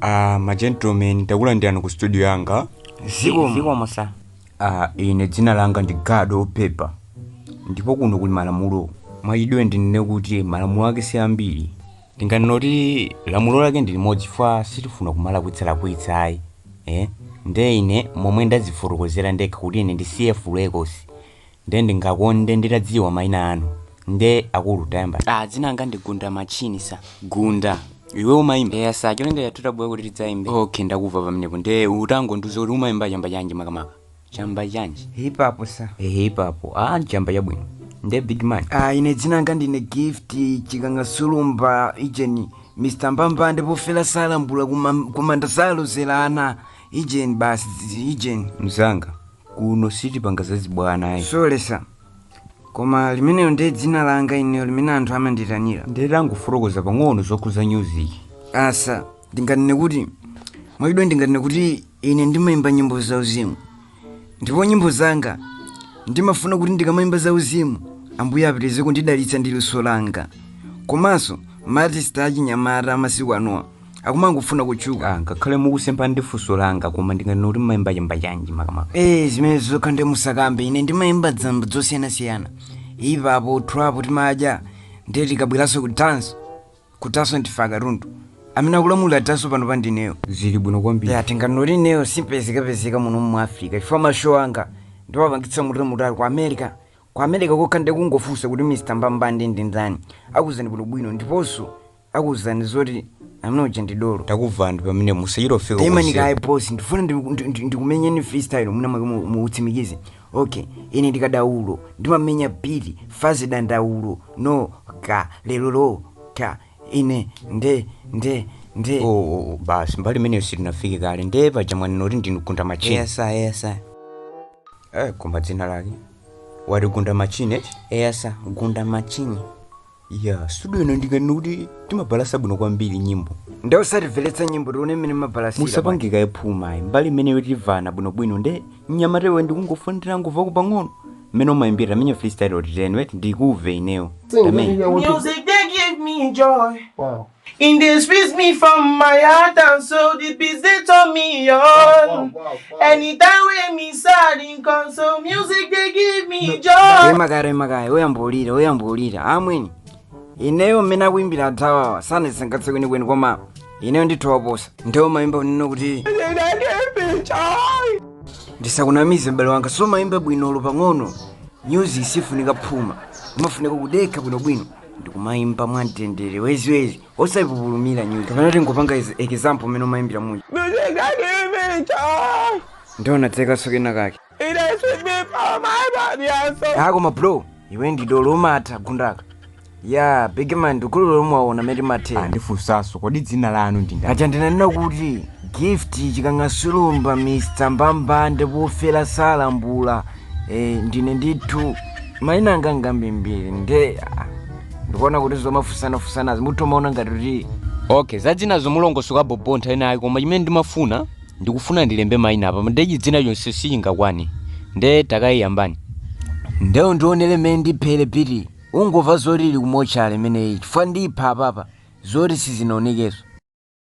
Ah, ma gentlemen ndakulandirani ku studio yanga zikomo sa ah, ine dzina langa ndi gado opepa ndipo kuno kuli malamulo mwachidule ndinene kuti malamulo ake si ambiri ndinganena kuti lamulo lake ndi limodzi fe sitifuna kumalakwitsalakwitsa ayi eh? nde ine momwe ndazifotokozera ndekha kuti ine ndi cf records Nde ndingakonde nditadziwa maina anu. Nde akulu tayamba. Ah dzina langa ndi Gunda Matchini sir. Gunda, iwe umaimba? Eya sir, cholinga chathu tabwera kuti tidzaimbe. Okay ndakumva pamenepo nde utangondiuza kuti umaimba chamba chanji makamaka? Chamba chanji? Hip hop sir. Eh hip hop, ah chamba chabwino. Nde big man? Ah ine dzina langa ndine Gift Chikanga Sulumba ijeni Mr Mbambande pofela salambula kuma- kumanda salozela ana ijeni basi ijeni. Mzanga, kuno sitipanga zachibwana ayi sole sa koma limenelo ndi dzina langa ineyo limene anthu amanditanira nde tangofotokoza pang'ono zokhudza music ah sa ndinganene kuti mwachidule ndinganene kuti ine ndimayimba nyimbo za uzimu ndipo nyimbo zanga ndimafuna kuti ndikamayimba za uzimu ambuye apitirize kundidalitsa ndi luso langa komanso maartist achinyamata amasiku anowa akumangofuna kutchuka Ah, ngakhale mukusemphana ndi funso langa koma ndinganena kuti mmayimba chamba chanji makamaka ee zimenezo zokha nde musakambe ine ndimayimba zamba zosiyanasiyana hip hop trap timadya ndiye tikabweranso ku dance kutanso ndife akatundu amene akulamulira tanso panopa ndineyo zili bwino kwambiri ya tinganoti ineyo simpezekapezeka muno mu africa chifukwa mashow anga ndimapangitsa kutalikutali ku america ku america kokha mukangofunsa kuti mr mbambande ndi ndani akuuzani bwinobwino ndiponso akuuzani zoti amene uja ndi dolo ndakumvani pamenepo musachita kufika taimani kaye bosi ndifuna ndi- ndi- ndi- ndikumenyeni freestyle mwina mwake mu- mutsimikize okay ine ndi kadaulo ndimamenya beat fast dandaulo no ka lero lo ka ine nde nde nde Oh, oh, oh, basi mbali imeneyo sitinafike kaye ndiye paja mwanena kuti ndinu gunda machine yes sa yes sa eh, koma dzina lake wati gunda machine eti yes sa gunda machine ya studio ino ndinganene kuti timabalasa bwino kwambiri nyimbo nde utatimvetsera nyimbo tione mmene mumabalasira musapange kaye phuma ayi mbali imeneyo timvana bwinobwino nde mnyamata iwe ndikungofuna nditangomvako pang'ono mmene umayimbira tamenya freestyle otitenwe ndikumve ineyo Sing, Amen. nigga, what you- Music they give me joy. Wow. In the squeeze me from my heart and so the beats they turn me on. Wow, wow, wow, Anytime when me sad in console, music they give me joy. Remakare makare, oyambolira, oyambolira. Amweni. Ineyo mmene akuimbira anzathuwa sanandisangalatse kwenikweni koma ineyo ndithu waposa. Nde umaimba ndinene kuti ndisakunamize m'bale wanga sumaimba bwinoko pang'ono. Music sifunika phuma. Imafunika kudekha bwinobwino. ndikumayimba mwa mtendere wayiziwayizi osayipupulumira nyuzi kapena tingopanga example mmene umayimbira muja ndionadzenso kena kake koma bro iwe ndi dolo umatha gundaka ya bigman ndikulolo mwaona mete matera ndifunsenso kodi dzina lanu ndi ndani aja ndinanena kuti gift chikangasulumba mr mbambande wofera salambula Eh, ndine ndithu maina anga ngambirimbiri nde ah, ndikuona kuti zomafunsanafunsanazi mutomaona ngati kuti okay zadzinazo mulongosoka bobo nthawi inayake koma chimene ndimafuna ndikufuna ndilembe maina apa nde chidzina chonse sichingakwane nde takayiyambani ndewu ndionere mmene ndiphere beat ungova zoti ili kumochale imeneyi chifukwa ndipha apapa zoti sizinaonekenso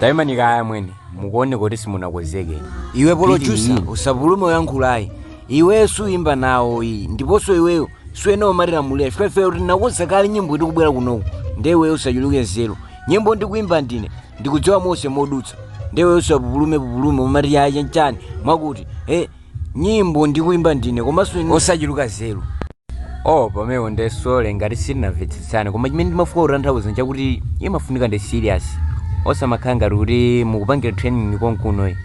taimani kaya mwene mukuone kuti simunakonzeke iwe producer usapupulume kuyankhulayi iwe suimba nawo iyi ndiponso iweyo si wina umatilamulira chifukwa ife tinakonza kale nyimboyi tikubwera kunoku nde iweyo usachuluke nzeru nyimbo ndikuimba ndine ndikudziwa monse modutsa nde iweyo usapupulume pupulume umati yaye nchani mwakuti e Nyimbo ndikuimba ndine komanso iwe usachuluke nzeru. Oh pamenepo nde sorry ngati sitinamvetsetsane koma chimene ndimafuna kutanthauza nchakuti imafunika ndi serious osamakhala ngati kuti mukupangira training konkuno eh.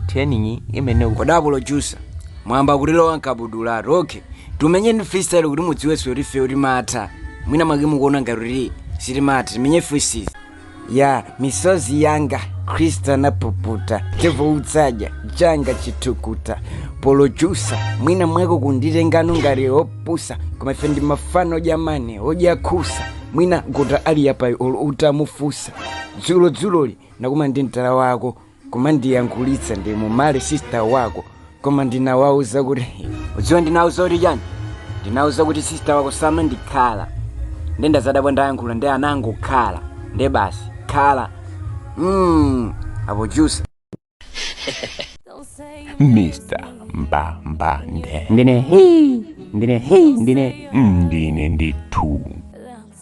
Training imayenera ku Kodi a producer mwayamba kutilowa mkabudulatu. Okay. Timenyeni freestyle kuti mudziwenso kuti ifeyo timatha. Mwina mwake mukuona ngati kuti sitimatha. Timenye freestyle. ya misozi yanga khristu anapuputa chifukwa cha changa chithukuta producer mwina mwako ukunditengano ngati opusa koma ife ndi mafana odya money odya khusa mwina kuti ali yapayi olo utamufunsa dzulo dzuloli nakumana ndi mtala wako kumandiyankhulitsa ndi mumale sista wako koma ndinauza kuti udziwa ndinauza kuti chani ndinauza kuti sista wako samandikhala nde ndazadabwa ndayankhula nde anangokhala nde basi khala mm, a producer mr mbambande ndine hii ndine hii ndine ndine ndithu